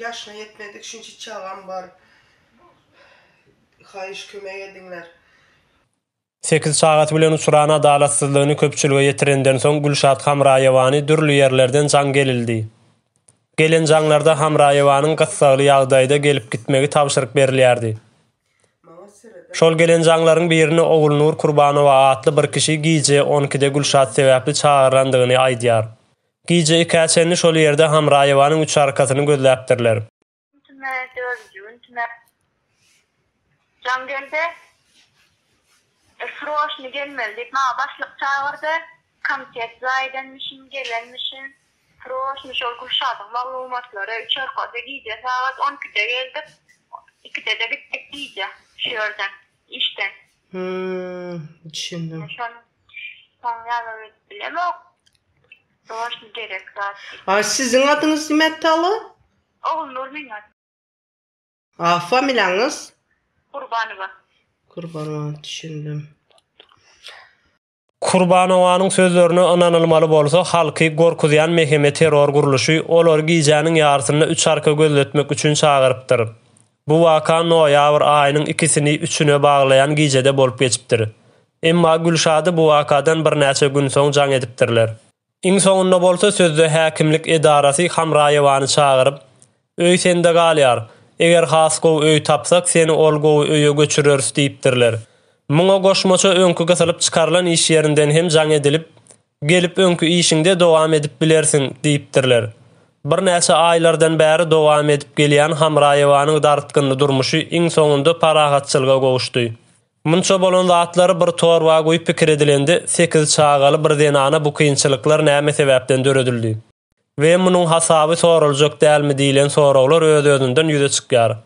yaşına yetmedik şunçi çagam bar. Haýyş kömek ediňler. 8 çagasy bilen uçuran adalatsyzlygyny köpçülige ýetirenden soň Gülşat Hamraýewany dürli ýerlerden jaň gelildi. Gelen jaňlarda Hamraýewanyň gyssagly ýagdaýda gelip gitmegi tabşyryk berilýärdi. Şol gelenjaňlaryň birini Ogulnur Kurbanowa atly bir kişi gije on ikide Gülşat sebäpli çagyrandygyny aýdýar. Gije ikä çenli şol ýerde Hamraýewanyň üç arkasyny gözläpdirler. Prosta şol Gülşadyň maglumatlary üç arkasyz gije sagat on ikide geldik, ikide-de gitdik gije şu ýerden, işden. Hüm, düşündim. Şony soň ýazar edip bilemok. Prosta gerek zat dil. A siziň adyňyz nimäpdi alo? Ogulnur meň at. A familiýaňyz? Gurbanowa. Gurbanowa, düşündim. Kurbanowanyň sözlerine ynanylmaly bolsa, halky gorkuzýan MHM terror gurluşy olary gijäniň ýarysynda üç arka gözletmek üçin çagyrypdyr. Bu waka noýabr aýynyň ikisini üçüne baglaýan gijede bolup geçipdir. Emma Gülşady bu wakadan birnäçe gün soň jaň edipdirler. Iň soňunda bolsa sözde häkimlik edarasy Hamraýewany çagyryp, Öý sende galýar. Eger has gowy öý tapsak, seni ol gowy öýe göçüreris diýipdirler. Muňa goşmaça öňki gysylyp çykarylan iş ýerinden hem jaň edilip, Gelip öňki işiňde dowam edip bilersiň diýipdirler. Birnäçe aýlardan bäri dowam edip gelýän Hamraýewanyň dartgynly durmuşy iň soňunda parahatçylyga gowuşdy. Munça bolan zatlar bir torba guýup pikir edilende, sekiz çagaly bir zenana bu kynçylyklar näme sebäpden döredildi we munuň hasaby soraljak dälmi diýlen soraglar öz-özünden ýüze çykýar.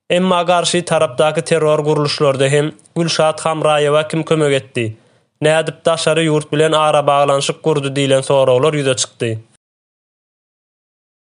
Emma garşy tarapdaky terror gurluşlarda hem Gülşat Hamraýewa kim kömek etdi, nädip daşary ýurt bilen arabaglanyşyk gurdy diýlen soraglar ýüze çykdy.